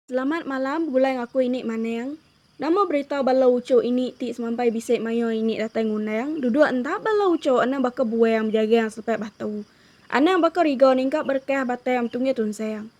Selamat malam begulai ngaku ini maneng. Nama berita bala uchu ini ti semampai bisi mayuh ini datai ngundang duduk enda bala uchu anang baka buang bejagang selepai batu. Anang baka riga ningkap berekah batai am tunggih tunsang.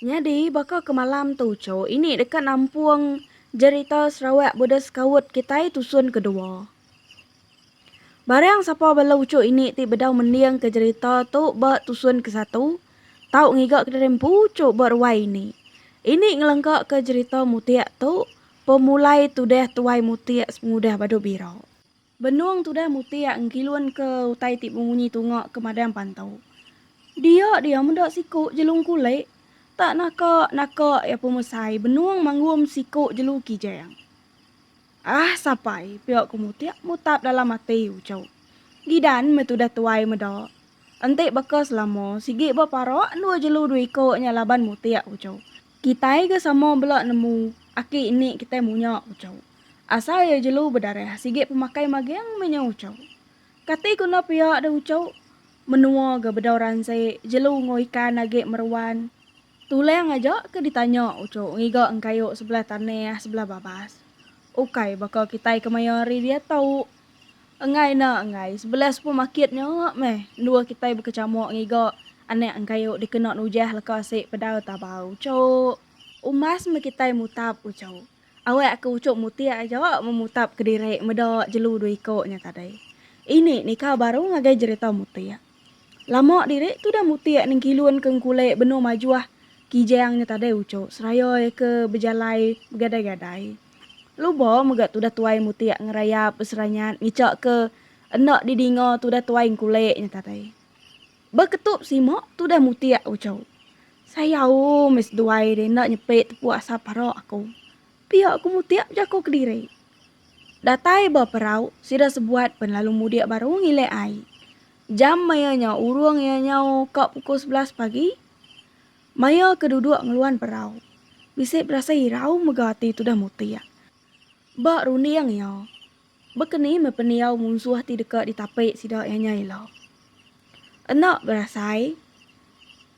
Nyadi, baka ke malam tu cho ini deka nampung jerita Sarawak Buddhist Scout kitai tusun kedua. Barang sapa bala uchu ini ti bedau mendingka jerita tu ba tusun ke satu, tau ngiga kediri empu uchu ba ruai ini. Ini ngelengkaka jerita Mutik tu pemulai tudah Tuai Mutik sepengudah Badu Bira. Benung tudah mutik enggilunka utai ti bemunyi tunga ke madang pantau. Dia dia meda siku Jelung Kulik. Tak naka naka iya pemesai benung manggum siku Jelu Kijang. Ah sapai pia ku mutik mutap dalam ati uchu. Gidan meh tudah tuai meda. Enti baka selama sigi beparak endua jelu dua iku nya laban mutik uchu. Kitai ke sama bela nemu aki ini kitai munya ucau. Asal iya jelu bedarah sigi pemakai maging meh nya ucau. Kati guna pia deh ucau? Menua ga bedau ransi jelu enggau ikan agi meruan. Tulang aja ke ditanya ucau ngiga engkayu sebelah tanah sebelah babas. Ukai baka kitai kemaya hari diatu. Enggai enda enggai, sebelah supermarket nya meh endur kitai bekechamuk ngiga anak engkayu dikena nujah leka asi pedau tabau uchup. Umas meh kitai mutap uchup. Awak ke uchup mutik aja meh mutap kediri meda jelu dua iku nya tadi. Ini nika baru ngagai jerita mutik. Lama diri tudah mutik nengkilun ke ngkulek benung majuh Kijang nya tadai ucuk seraya ke bejalai begadai-gadai. Luba mega tudah tuai mutik ngerayap beseranyat ngica ke enda didinga tudah tuai ngkulek nya tadai. Ba ketup sima tudah mutik ucuk. Sayau meh seduai deh enda nyepik tepuk asap parak aku. Pia ku mutik bejako kediri. Datai ba perau, sida sebuat pen lalu mudik baru ngilek ai. Jam maya nya urung iya nyau ka pukul sebelas pagi. Maya ke duduk ngeluan perau, bisi berasai irau mega ati tudah mutik. Ba runding iya, baka ni meh pendiau munsuh ti deka ditapi sida iya nya ila. Enda berasai,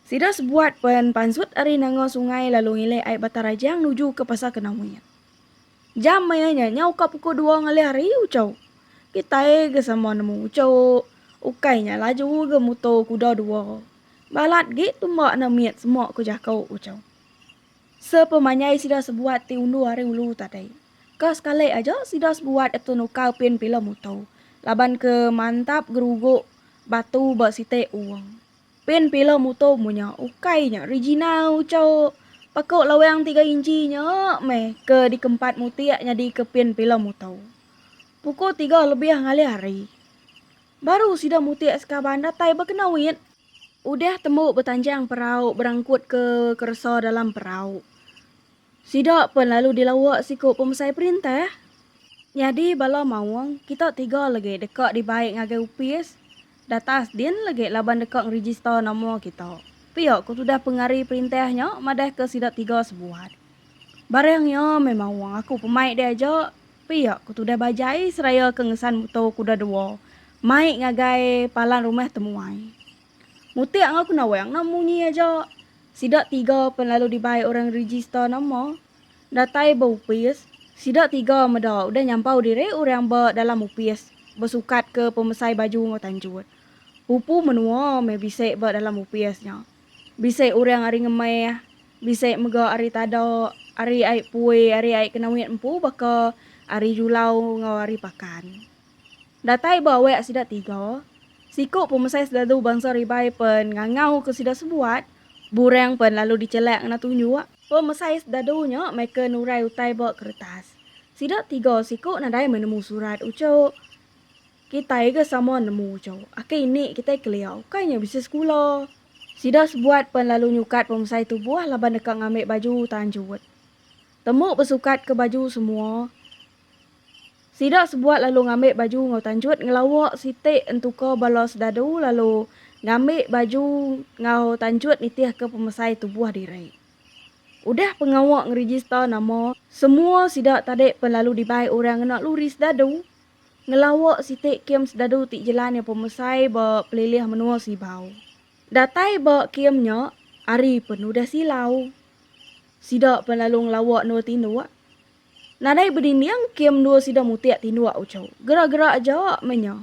sida sebuat pen pansut ari nanga sungai lalu ngilek ai Batang Rajang nuju ke Pasar Kenawit. Jam maya nya, nyau ka pukul dua ngalih hari, Uchau. Kitai ga sama nemu Uchau. Ukai nya laju ga muto kuda dua. Balat gik tumbak enda mit semak ku jako Uchau. Sepemanjai sida sebuat ti undur ari ulu tadai. Ka sekalik aja sida sebuat atu nuka pin pila muto laban ke mantap geruguk batu ba sitik uong. Pen pila muto mu nya ukai nya Regina uco pako lawang tiga inchi nya meh ke dikempat mutik nyadi ke pen pila muto. Puko tiga lebih ngalih hari. Baru sida mutik sekaban datai ba kena wit. Udah tembu betanjang perau berangkut ke keresa dalam perau. Sida pen lalu dilawa siko pemesai perintah. Nyadi bala maong kita tiga legi deka dibai ngagai opis. Datas din legi laban deka ngerijista nama kita, pia ku tudah pengari perintah nya madahka sida tiga sebuat. Barang iya memang wang aku pemai deh aja, pia ku tudah Bajai seraya ke ngesan muto kuda dua mai ngagai palan rumah temuai. Mutik enggau kenawang nya munyi aja, sida tiga pen lalu dibai orang ngerijista nama. Datai ba opis, sida tiga meda udah nyampau diri orang ba dalam opis besukat ke pemesai baju enggau tanjut. Pupu menua meh bisi ba dalam opis nya. Bisi orang ari ngemeh, bisi mega ari tada, ari ai pui, ari ai kena wit empu baka ari julau enggau ari pakan. Datai ba awak sida tiga, siku pemesai selalu bansa ribai pen ngangau ke sida sebuat, burang pen lalu dichelak ngena tunjuk. Pemesai sdadu nya maika nurai utai ba keretas. Sida tiga siku nadai meh nemu surat uchu. Kitai ga sama nemu uchu. Aka ini kitai kelia ukai nya bisi sekula. Sida sebuat pen lalu nyukat pemesai tubuh laban deka ngambi baju tanjut. Tembu besukat ke baju semua, Sida sebuat lalu ngambi baju enggau tanjut ngelawa siti entuka bala sedadu lalu ngambi baju enggau tanjut nitihka pemesai tubuh diri. Udah pengawa ngerejista nama, semua sida tadi pen lalu dibai orang ngena luri sedadu ngelawa siti kem sedadu ti jelan iya pemesai ba pelilih menua Sibau. Datai ba kem nya ari pen udah silau, sida pen lalu ngelawa endur tinduk Nadai bedinding ke mendua sida mutik tinduk uchu. Gerak-gerak aja meh nya.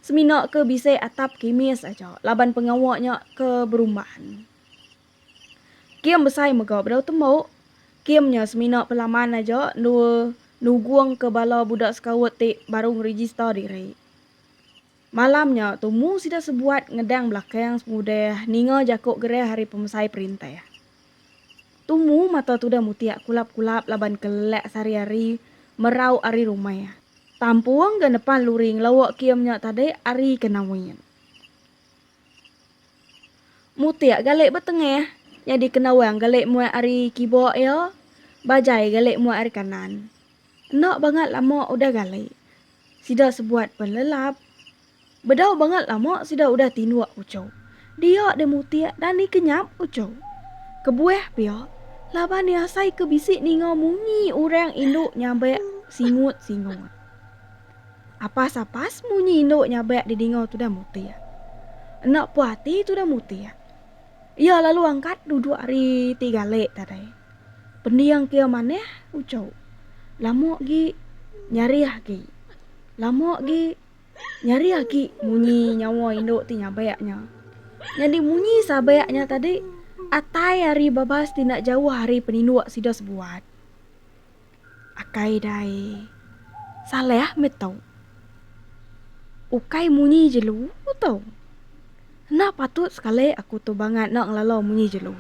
Semina ke bisi atap kimis aja laban pengawa nya ke berumban. Kim besai mega bedau tembu. Kim nya semina pelaman aja endur nugungka bala budak sekaut ti baru ngerejista diri. Malam nya, tumu sida sebuat ngedang belakang semudah ninga jaku gerah ari pemesai perintah. Tumu mata tudah mutik kulap-kulap laban kelelak sehari-hari merau ari rumah. Tampung ga nepan luri ngelauk kem nya tadi ari ke Nawin. Mutik galik ba tengah, nyadi ke Nawang galik muat ari kiba iya, Bajai galik muat ari kanan. Enda bangat lama udah galik, Sida sebuat penlelap. Bedau bangat lama sida udah tinduk uchu. Dia deh mutik dan dikenyap uchu. Kebuah pia, laban diasaika bisi ninga munyi orang indu nyabak singut-singut. Apas-apas munyi indu nyabak didinga tudah mutik. Enda puas ati tudah mutik. Iya lalu angkat duduk ari ti galek tadai. Pending kia manah uco. Lama gi nyari aki. Lama gi nyari aki munyi nyawa indu ti nyabak nya. Nyadi munyi sabak nya tadi atai ari babas ti enda jauh ari peninduk sida sebuat. Akai dai salah meh tau. Ukai munyi jelu tau. Enda patut sekali aku tu bangat enda ngelalau munyi jelu.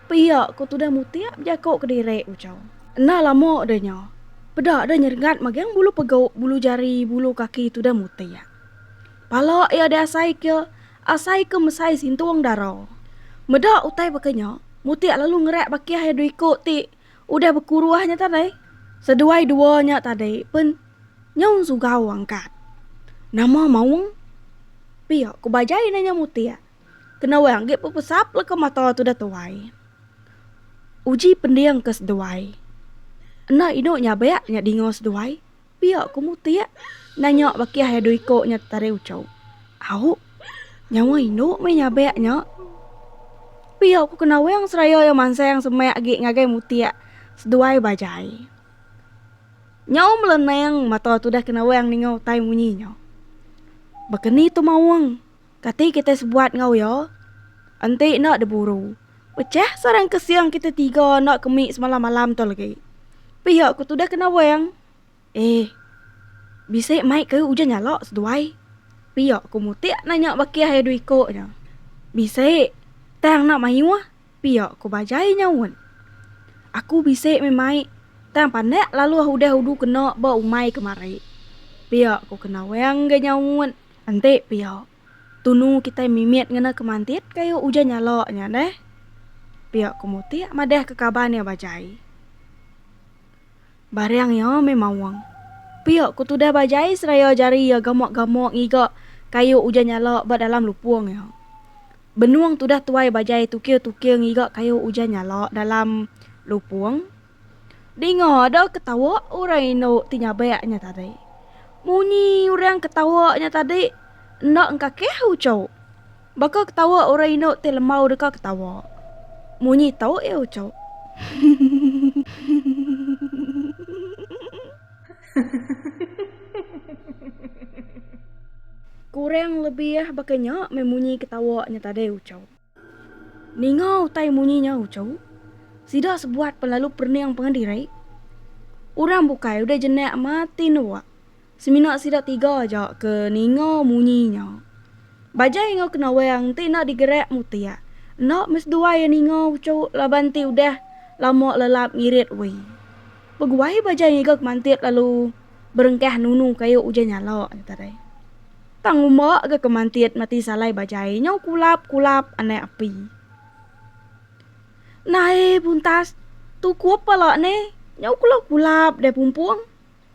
Pia ku tudah mutip jaku kediri ucau. Enda lama deh nya, peda deh nyerengat magang bulu pegu, bulu jari, bulu kaki tudah mutip. Pala iya diasaika, asaika mesai sintung dara. Meda utai baka nya, mutip lalu ngerak bakih iya dua iku ti Udah bekuruh nya tadai, seduai dua nya tadi pen nyaun sugau angkat. Nama maung? Pia ku bajai nanya mutik. Kena wang agi pepesap leka mata tudah tuai. Uji pending ke seduai. Enda inu nyabak nya dinga seduai. Pia ku Mutik nanya baki ai dua iko nya tetaring uchu. Au, nyawa indu meh nyabek nya. Pia ku kena Wang seraya iya mansang semak agi ngagai Mutik seduai bajai. Nyau melenang mata tudah kena Wang ninga utai munyi nya. Baka ni tu maung, kati kitai sebuat enggau iya? Enti enda diburu. Pechah sarang ke siang kita tiga anak ke mih semalam malam tu lagi. Pihak ku tudah kena wang. Eh, bisi mai ke ujan nyala seduai. Pihak ku mutik nanya baki hai du iko nya. Bisi, tang nak mayuh, pihak ku bajai nyaut. Aku bisi mih mai, tang pandak lalu ah udah udu kena ba umai kemari. Pihak ku kena wang ga nyaut, enti pihak. Tunu kitai mimit ngena kemantit kayu ujan nyala nya neh, pia ku Mutik madahka kaban iya Bajai. Barang iya meh maung. Pia ku tudah Bajai seraya jari iya gamak-gamak ngiga kayu ujan nyala ba dalam lupung iya. Benung tudah tuai Bajai tukir-tukir ngiga kayu ujan nyala dalam lupung. Dinga da ketawa orang indu ti nyabak nya tadi. Munyi orang ketawa nya tadi enda engkakih uchu. Baka ketawa orang indu ti lembau deka ketawa. Munyi tu iya uchu. Kurang lebih baka nya meh munyi ketawa nya tadi uchu. Ninga utai munyi nya uchu, sida sebuat pen lalu perning pengan diri. Orang bukai udah jenak matin nuak, semina sida tiga aja ke ninga munyi nya. Bajai enggau kenawang enti enda digerak mutik, enda meh seduai iya ninga uchu laban enti udah lama lelap ngirit wee. Beguai bajai ngiga ke mantit lalu. berengkah nunu kayu ujan nyala nya tadai. Tang uma ga ke mantit mati salai bajai nyau kulap kulap anai api. Nae buntas tukup pala ne nyau kulap kulap deh pumpung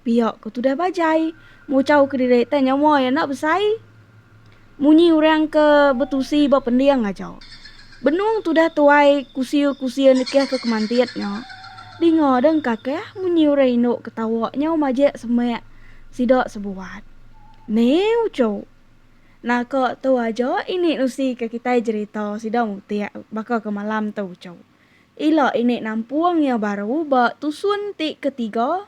pia ke tudah bajai muchau kediri tanya mua ya enda besai. Munyi orang ke betusi ba pending aja. Benung tudah tuai kusia-kusia nekeh ke kemantit nya. Dinga deng kakeh munyi orang indu ke tawa nyau majek semek sida sebuat. Neu cho. Naka tu aja ini nusi ke kitai jerita sida mutik baka ke malam tu cho. Ila ini nampung iya baru ba tusun ti ketiga.